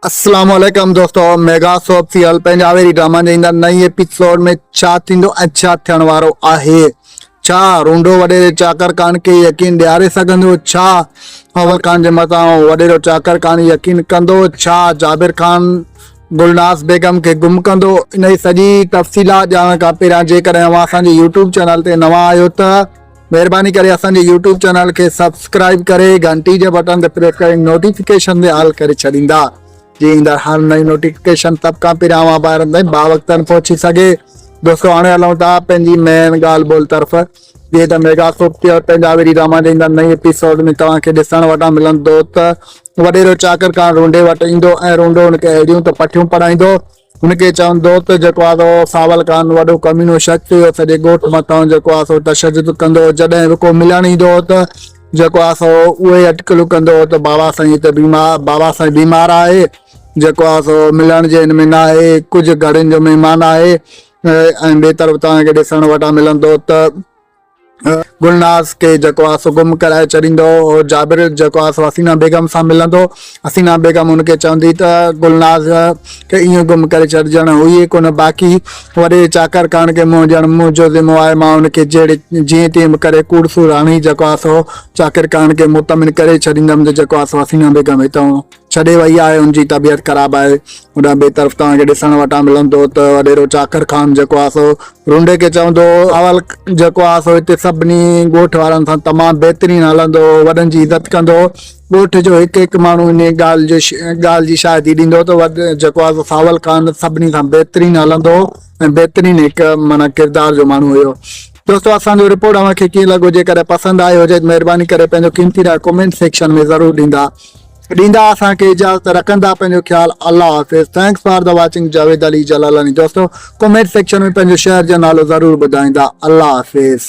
السلام عليڪم دوستو ميگا سوپ سيل پنجاوري ڊراما جي اندر نئين ايپيسوڊ ۾ ڇا ٿيندو ۽ ڇا ٿيڻ وارو آهي ڇا رونڊو وڏيري چاڪر خان کي يقين ڏياري سگهندو ڇا اول خان جي متان وڏيرو چاڪر خان يقين ڪندو ڇا جابر خان گلناز بيگم کي گم ڪندو انهي سڄي تفصيلات ڄاڻڻ کان پهريان جيڪڏهن اوهان اسان جي يوٽيوب چينل تي نوان آهيو ته مهرباني ڪري اسان جي يوٽيوب چينل کي سبسڪرائب ڪري گهنٽي جي بٽن تي پريس ڪري نوٽيفڪيشن تي آل ڪري ڇڏيندا جي ايندڙ هر نئين نوٽيفڪيشن سڀ کان پهريان اوهان ڀائرن تائين باوقتن پهچي سگهي دوستو هاڻي هلون ٿا پنهنجي مين ڳالهه ٻولهه طرف جيئن ته ميگا سوپ تي اور پنهنجا ويري راما جي ايندڙ نئين ايپيسوڊ ۾ توهان کي ڏسڻ وٽان ملندو ته وڏيرو چاڪر کان رونڊي وٽ ايندو ۽ رونڊو ان کي اهڙيون ته پٺيون پڙهائيندو هن کي چوندو ته جيڪو آ سو ساول خان وڏو ڪمينو شخص هيو سڄي ڳوٺ مٿان جيڪو آ سو تشدد ڪندو هو جڏهن به ڪو ملڻ ايندو هو ته جيڪو آ سو اهي ئي اٽڪلون ڪندو هو ته بابا سائين هتي بيمار بابا سائين بيمار آهي جيڪو آ سو ملڻ جي هن ۾ نه آهي ڪجهه گهڙين جو مهمان آهي ۽ ٻي طرف توهان کي ڏسڻ وٽان ملندو ته گلناز کي جيڪو آس گم ڪرائي ڇڏيندو هو، جابر جيڪو آس حسينا بيگم سان ملندو، حسينا بيگم هن کي چوندي ته گلناز کي ائين گم ڪري ڇڏ ڄڻ هئي ئي ڪونه باقي، وڏي چاڪر ڪاڻ کي منهن ڄڻ منهن جو ذمو آهي، مان هن کي جهڙي جيئن تيئن به ڪري ڪوڙ سور هڻي جيڪو آس هو چاڪر ڪاڻ کي مطمئن ڪري ڇڏيندم ته جيڪو آس حسينا بيگم هتان ڇڏي وئي آهي ان جي طبيعت خراب آهي اوڏانهن ٻئي طرف توهان کي ڏسڻ وٽان ملندو ته وڏيرو چاڪر خان جيڪو آهي سو رونڊي کي چوندو هو اول جيڪو آهي سو هتي سڀني ڳوٺ وارن سان تمام بهترين هلندو هو وڏن جي عزت ڪندو هو ڳوٺ جو هڪ هڪ ماڻهو ان ڳالهه جو ڳالهه جي شاهدي ڏيندو هو ته جيڪو آهي سو ساول خان سڀني سان بهترين هلندو هو ۽ بهترين هڪ معنيٰ ڪردار جو ماڻهو هيو دوستو اسان جو رپورٽ اوهان کي ڪيئن لڳو جيڪڏهن پسند آيو هجي ته مهرباني ڪري پنهنجو قيمتي راء ڪمينٽ سيڪشن ۾ ضرور ڏيندا ڏيندا اسان کي اجازت رکندا پنهنجو خيال الله حافظ thanks for the watching Javed Ali Jalalani دوستو ڪمينٽ سيڪشن ۾ پنهنجو شهر جو نالو ضرور ٻڌائيندا الله حافظ.